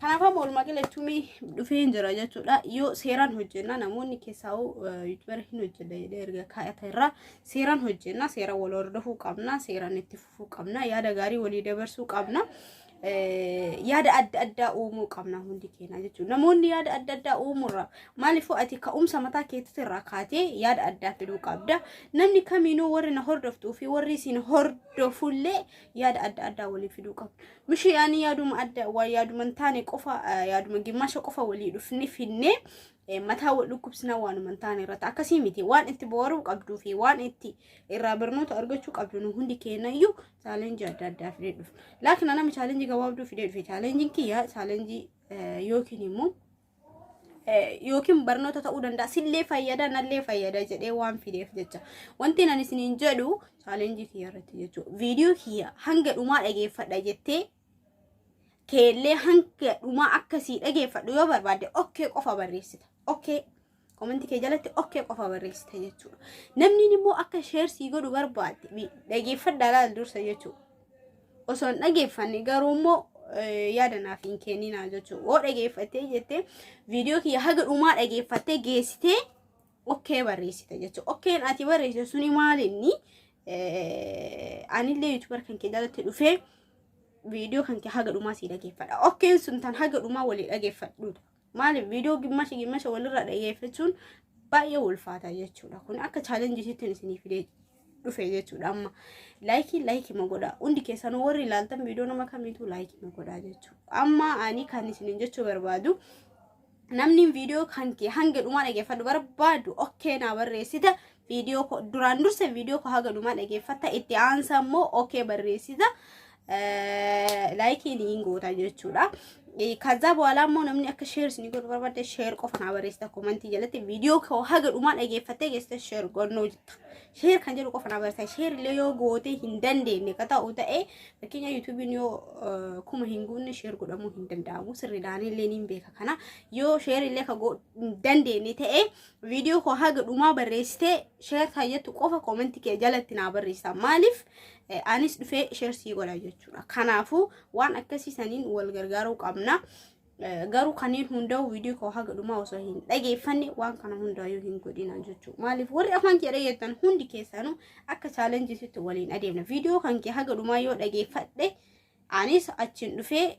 Kanaaf amma walumaa galatti mee dhufee jira jechuudha. Yoo seeraan hojjenna namoonni keessaa yuutuubara hin hojjenne jedhee erga kaayata irraa seeraan hojjenna seera wal hordofuu qabna seeraan itti fufuu qabna yaada gaarii walii dabarsuu qabna. yaada adda addaa uumuu qabna hundi keenya jechuudha. Namoonni yaada adda addaa uumuurra maaliifuu ati ka'umsa mataa keetii irraa kaatee yaada addaa fiduu qabda. Namni kamiinuu warri na hordoftuu fi warri isin hordofullee yaada adda addaa walii fiduu qabna. Mishii ani yaaduma adda waa yaaduma hin taane qofa yaaduma gimmaasha qofa walii dhufne finne mataa wal dhukkubsinaa waanuma hin taane irratti akkasii miti waan itti booruu qabduu fi waan itti irraa barnoota argachuu qabdu nu hundi keenya iyyuu chaalenjii adda addaa fidee dhufu. Laakiin anama chaalenjii gabaabduu fidee dhufe chaalenjiin kiyya chaalenjii yookiin immoo yookiin barnoota ta'uu danda'a sillee fayyada nallee fayyada jedhee waan fideef jecha wanti nan isiniin jedhu chaalenjii kiyya irratti jechuudha viidiyoo kiyya hanga dhumaa dhageeffadha jettee keellee hanga dhumaa akkasii dhageeffadhu yoo barbaadde okkee qofa barreessita okkee Komantii kee jalatti okkee qofa barreessite jechuudha. Namni immoo akka sheer sii godhu barbaadde mi- dhageeffadhaa laal dursa jechuudha. Osoo hin dhageeffanne garuu immoo eh, yaada naaf hin kenninaa jechuudha. Yoo dhageeffattee jettee viidiyoo kiyya haga dhumaa dhageeffattee geessitee okkee barreessite jechuudha. Okkeen ati barreessite suni maali inni? Eh, Anillee yuutubar kan kee jalatti dhufee viidiyoo kan kee haga dhumaa sii dhageeffadha. Okkeen sun tan haga dhumaa walii dhageeffadhuudha. Maaliif viidiyoo gimmasha gimmasha walirra dhaggeeffachuun baay'ee ulfaata jechuudha. Kun akka chaalenjiitti isinii fidee dhufe jechuudha amma. Laayikii laayikii ma godhaa. Hundi keessanuu warri ilaaltan viidiyoo nama kamiitu laayikii ma godhaa jechuudha. Amma ani kan isiniin jechuu barbaadu namni viidiyoo kan kee hanga dhumaa dhaggeeffadhu barbaadu okkee naa barreessita Viidiyoo koo duraan dursa viidiyoo koo haga dhumaa dhageeffatta itti aansa immoo okee barreessita laayikii niin goota jechuudha. Kaza boola immoo namni akka sheers ni godhu barbaadde sheer qofa naa barreessita komantii jalatti viidiyoo koo haga dhumaa dhageeffattee geessite sheer gonnoo jetta. Sheer kan jedhu qofa naa barreessita sheer illee yoo gootee hin dandeenye ka ta'u ta'ee fakkeenya yuutuubiin yoo kuma hin guunne sheer godhamuu hin danda'amu sirriidhaan illee niin beeka kana yoo sheer illee ka hin dandeenye ta'ee Viidiyoo koo haga dhumaa barreessitee sheer tayyattu qofa koomenti kee jalatti naa barreessaa. Maaliif eh, anis dhufee sheer sii godha jechuudha. Kanaafuu waan akkasii saniin wal gargaaruu qabna. Eh, Garuu kanneen hundaa'u viidiyoo koo haga dhumaa osoo hin dhageeffanne waan kana hundaa'uu hin godhina jechuudha. Maaliif warri afaan kee dhageettan hundi keessanuu akka chaalenjisitti waliin adeemna. Viidiyoo kan kee haga dhumaa yoo dhageeffadhe anis achiin dhufee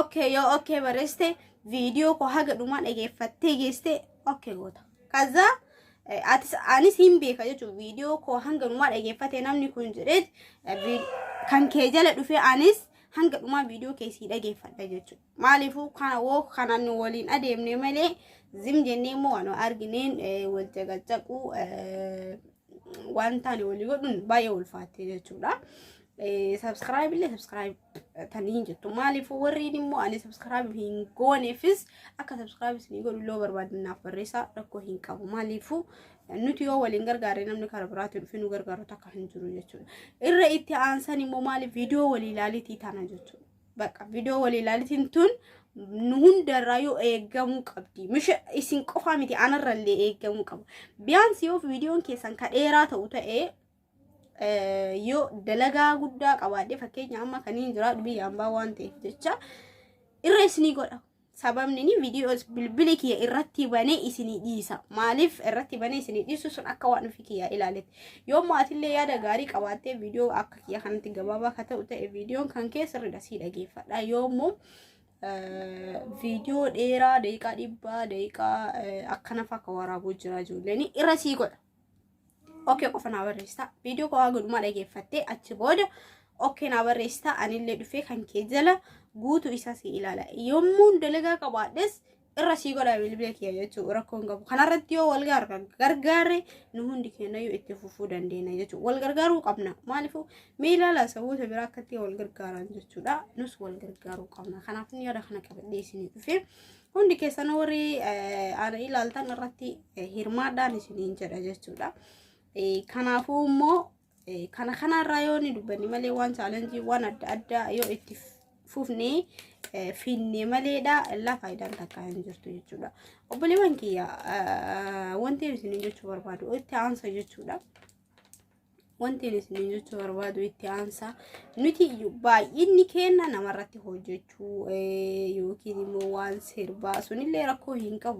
okay yoo okay barreessite viidiyoo koo haga dhumaa dhageeffattee geessite okay goota kaza eh, atis anis hin beeka jechuun viidiyoo koo hanga dhumaa dhageeffate namni kun jedhee eh, vi- kan kee jala dhufee anis hanga dhumaa viidiyoo kee sii dhageeffadha jechuudha maaliifuu kana woo kanaan nu waliin adeemne malee zim jennee immoo waan argineen eh, wal caqacaquu eh, waan taane walii godhuun baay'ee ulfaatte jechuudha. Eh, Subscribe illee subscribe taniin jettu maaliif warriin immoo ani sabskraayib hin gooneefis akka sabskraayib isinii godhu illee barbaadan naaf barreessaa rakkoo hin qabu maaliifuu nuti yoo waliin gargaarre namni karaa biraatiin dhufee nu gargaaru takka hin jiru jechuudha irra itti aansan immoo maaliif viidiyoo walii ilaalitii tana jechuudha bakka viidiyoo walii ilaalitiin tun nu hundarraa yoo eegamuu qabdi misha isin qofaa miti anarrallee eegamuu qaba biyyaansi yoo viidiyoon keessan ka dheeraa ta'u ta'ee yoo dalagaa guddaa qabaadhe fakkeenya amma kaniin jiraadhu biyya ambaa waan ta'eef jecha irra isinii godha. Sababni inni viidiyoos bilbili kiyya irratti banee isinii dhiisa. Maaliif irratti banee isinii dhiisu sun akka waan ofii kiyyaa ilaaletti. Yoo maatillee yaada gaarii qabaattee viidiyoo akka kiyya kanatti gabaabaa akka ta'u ta'e viidiyoon kan kee sirriidha sii dhageeffadha. Yoo immoo viidiyoo dheeraa daqiiqaa dhibbaa daqiiqaa akkanaaf akka waraabuu jira ijoolleen irra sii godha. ok qofa naa barreessita viidiyoo koo haa godhumaa dhageeffattee achi booda ok naa barreessita anillee dhufee kan kee jala guutuu isaa si ilaala yommuun dalagaa qabaadhes irra sii godha bilbila kiyya jechuu rakkoon qabu kanarratti yoo wal garga- gargaarre nu hundi keenyayyuu itti fufuu dandeenya jechuudha wal gargaaruu qabna maaliifuu mee ilaala saboota biraa akkatti wal gargaaran jechuudha nus wal gargaaruu qabna kanaaf inni yaada kana qabadhee isinii dhufee Hundi keessan warri ana ilaaltan irratti hirmaadhaan isiniin jedha jechuudha. Kanaafuu immoo kana kanarraa yoo ni dubbanne malee waan chaalenjii waan adda addaa yoo itti fufne finne maleedha illaa faayidaan takka hin jirtu jechuudha. Obboleewwan kiyya wanti isiniin jechuu barbaadu itti aansa jechuudha. Wanti ani isiniin jechuu barbaadu itti aansa nuti baay'inni keenya namarratti hojjechuu yookiin immoo waan sirbaa sunillee rakkoo hin qabu.